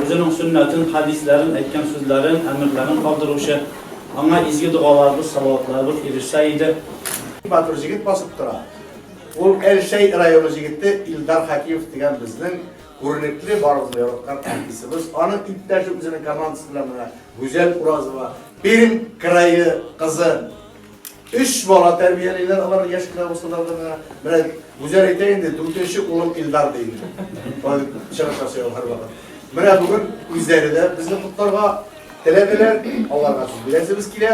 Үзенең сөннәтен, хәдисләрен, әйткән сүзләрен, әмерләрен калдыручы, аңа изге догаларыбыз, салаватларыбыз ирешсә иде. Матур җегет басып тора. Ул Әлшәй районы җегете Илдар Хәкимов дигән безнең күренекле, барыбызга яраткан артистыбыз. Аның иптәше үзенең командасы белән менә Гүзәл Уразова, Пермь крае кызы. Өч бала тәрбиялиләр алар яшь кенә булсалар да менә. Менә Гүзәл әйтә инде, дүртенче улым Илдар ди инде. Чыгыш ясый ул һәрвакыт. Менә бүген үзләре дә безне котларга теләделәр. Аларга сүз бирәсебез килә.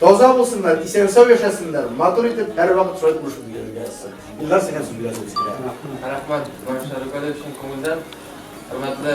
Таза булсыннар, исән-сау яшәсеннәр, матур итеп һәрвакыт шулай тормыш бирергә язсын. Илдар, сиңа сүз бирәсебез килә. Рәхмәт, багышларыгыз өчен күңелдән. Хөрмәтле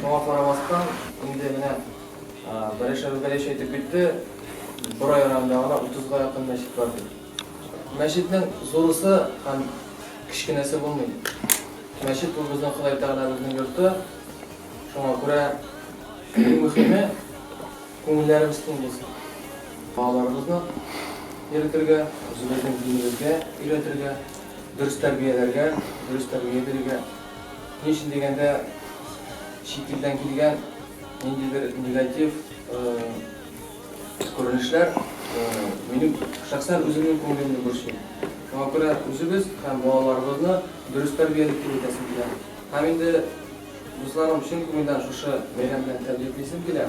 Шуңа карамастан, инде менә Бәрәшәбе-Бәләш әйтеп китте, Борай районында гына утызга якын мәчет бар ди. Мәчетнең зурысы һәм кечкенәсе булмый. Мәчет ул безнең Ходай Тәгаләбезнең йорты. Шуңа күрә иң мөһиме, күңелләребез киң булсын. Балаларыбызны йөретергә, үзебезнең динебезгә өйрәтергә, дөрес тәрбияләргә, дөрес тәрбия бирергә. Нишлим дигәндә, чит илдән килгән ниндидер негатив күренешләр минем шәхсән үземнең күңелемне борчый. Шуңа күрә үзебез һәм балаларыбызны дөрес тәрбиялик дип әйтәсем килә. Һәм инде, дусларым, чын күңелдән шушы бәйрәм белән тәбриклисем килә.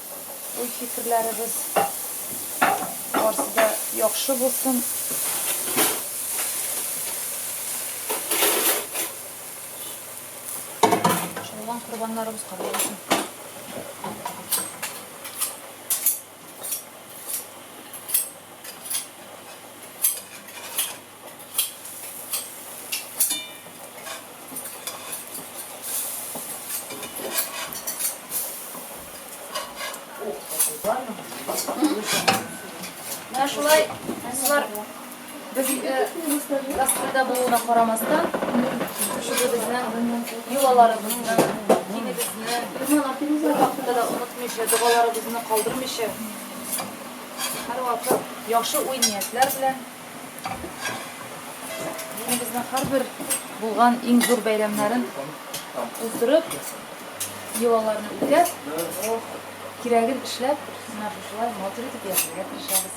уй-фикерләребез. Барсы да яхшы булсын. Шулган корбаннарыбыз кабул булсын. Менә шулай кызлар безгә гастрольдә булуына карамастан, шушы безнең йолаларыбызны, динебезне, ул хакта да онытмыйча, догаларыбызны калдырмыйча, һәрвакыт яхшы уй-ниятләр белән Динебезнең һәрбер булган иң зур бәйрәмнәрен уздырып, йолаларны үтәп, кирәген эшләп, менә шушылай матур итеп яшәргә тырышабыз.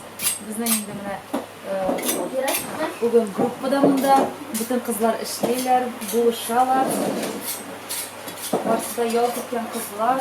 Безнең инде менә бүген группа да монда, бөтен кызлар эшлиләр, булышалар. Барсы да ял көткән кызлар.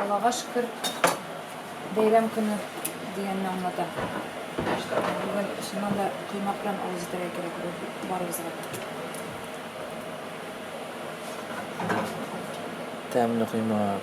Аллага шөкер, бәйрәм көне дигәнне аңлата. Бүген чыннан да коймак белән авыз итәргә кирәк бу барыбызга да. Тәмле коймак.